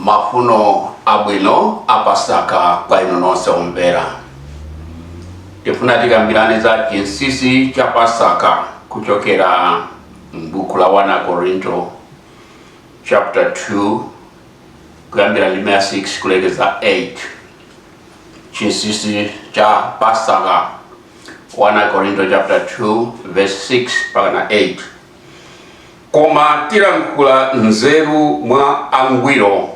mafuno abwino apasaka kwa inu nonse omvera tifuna tikambirane za chinsinsi cha pasaka kuchokera m'buku la 1 akorinto chapter 2 kuyambira ndime ya 6 kulekeza 8 chinsinsi cha pasaka 1 korinto chapter 2 verse 6 mpaka na 8 koma tilankhula nzeru mwa angwiro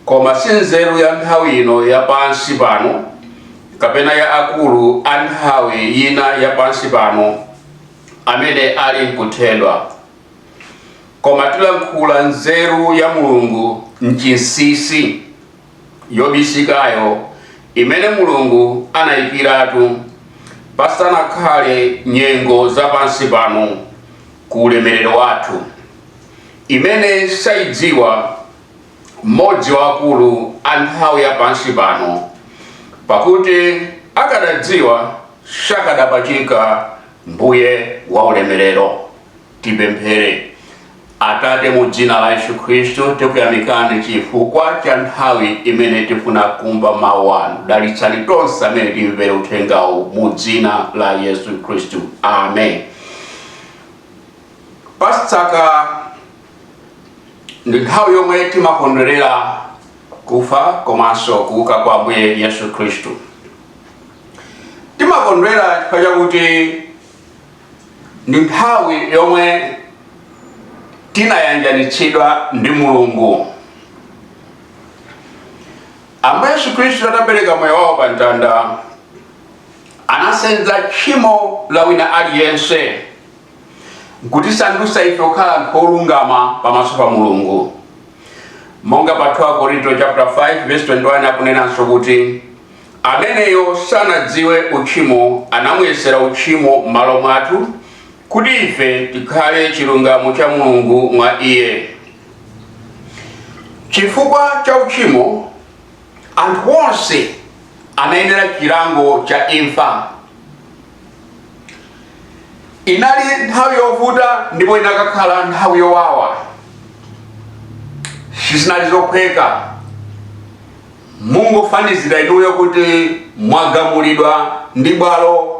koma si nzeru ya nthawi ino ya pansi pano kapena ya akulu a nthawi ino ya pansi pano amene ali nkuthedwa koma tilankhula nzeru ya mulungu mchinsinsi yobisikayo imene mulungu anayikiratu pasanakhale nyengo za pansi pano ku ulemerero wathu imene sayidziwa mmodzi wa akulu a nthawi ya pansi pano pakuti akadadziwa sakadapachika mbuye wa ulemerero Tipemphere. Atate, mu dzina la Yesu Khristu tikuyamikani chifukwa cha nthawi imene tifuna kumva mawu anu. Dalitsani tonse amene timvere uthengawu mu dzina la Yesu Khristu. Amen. Pasaka ndi nthawi yomwe timakondwerera kufa komanso kuuka kwa Ambuye Yesu Khristu. Timakondwera chifukwa chakuti ndi nthawi yomwe tinayanjanitsidwa ndi mulungu ambuye yesu khristu atapereka moyo wawo pa mtanda anasenza tchimo la wina aliyense nkutisandutsa ife kukhala anthu olungama pamaso pa mulungu monga pa 2 korinto chapter 5 verse 21 akunenanso kuti Ameneyo sanadziwe uchimo anamuyesera uchimo m'malo mwathu, kuti ife tikhale chilungamo cha Mulungu mwa Iye. Chifukwa cha uchimo, anthu onse anayenera chilango cha imfa. Inali nthawi yovuta ndipo inakakhala nthawi yowawa, sizinali zophweka. Mungofanizira inuyo kuti mwagamulidwa ndi bwalo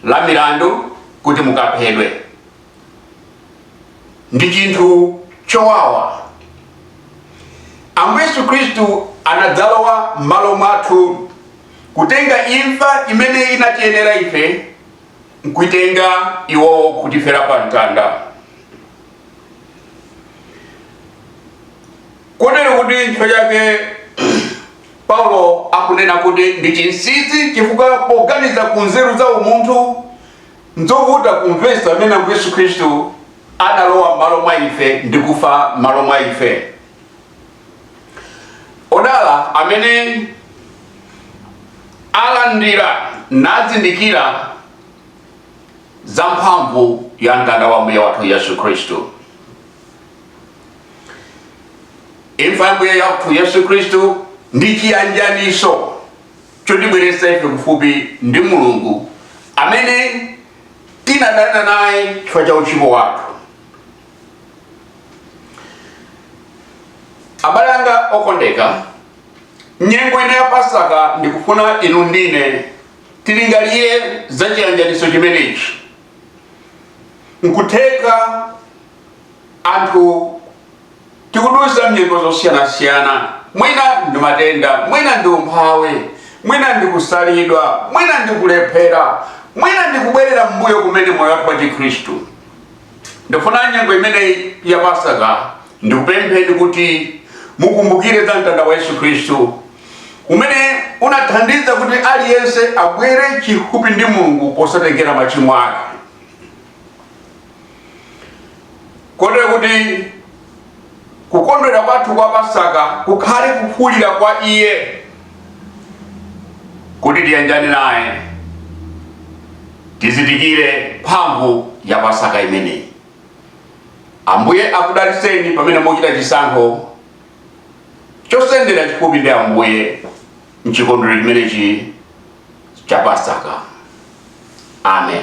la milandu kuti mukaphedwe. Ndi chinthu chowawa. Ambuye Yesu Khristu anadzalowa m'malo mwathu kutenga imfa imene inatiyenera ife nkuitenga iwo kutifera pa mtanda. Kotero kuti nchifukwa chake Paulo akunena kuti ndi chinsinsi chifukwa poganiza ku nzeru za umunthu nzovuta kumvetsa mmene Ambuye Yesu Khristu analowa m'malo mwa ife ndi kufa m'malo mwa ife. Odala amene alandira nazindikira za mphamvu ya mtanda wa Ambuye wathu Yesu Khristu. imfa ya mbuye wathu yesu khristu ndi chiyanjaniso chotibweretsa ife kufupi ndi mulungu amene tinadana naye chifukwa cha uchimo wathu abale anga okondeka nyengo ino ya pasaka ndikufuna inu ndine tilingalire za chiyanjaniso chimenechi nkutheka Anthu tikudutsa m'nyengo zosiyanasiyana, mwina ndi matenda, mwina ndi umphawi, mwina ndi kusalidwa, mwina ndi kulephera, mwina ndi kubwerera m'mbuyo kumene m'moyo wathu wachikhristu. Ndifuna nyengo imeneyi ya Pasaka ndikupempheni kuti mukumbukire za mtanda wa Yesu Khristu umene unathandiza kuti aliyense abwere chifupi ndi Mulungu posatengera machimo ake. kotero kuti kukondwera kwathu kwa pasaka kukhale kufupikira kwa iye kuti tiyanjane naye tizindikire mphamvu ya pasaka imeneyi ambuye akudalitseni pamene muchita chisankho chosendera chifupi ndi ambuye mchikondwerero chimenechi cha pasaka amen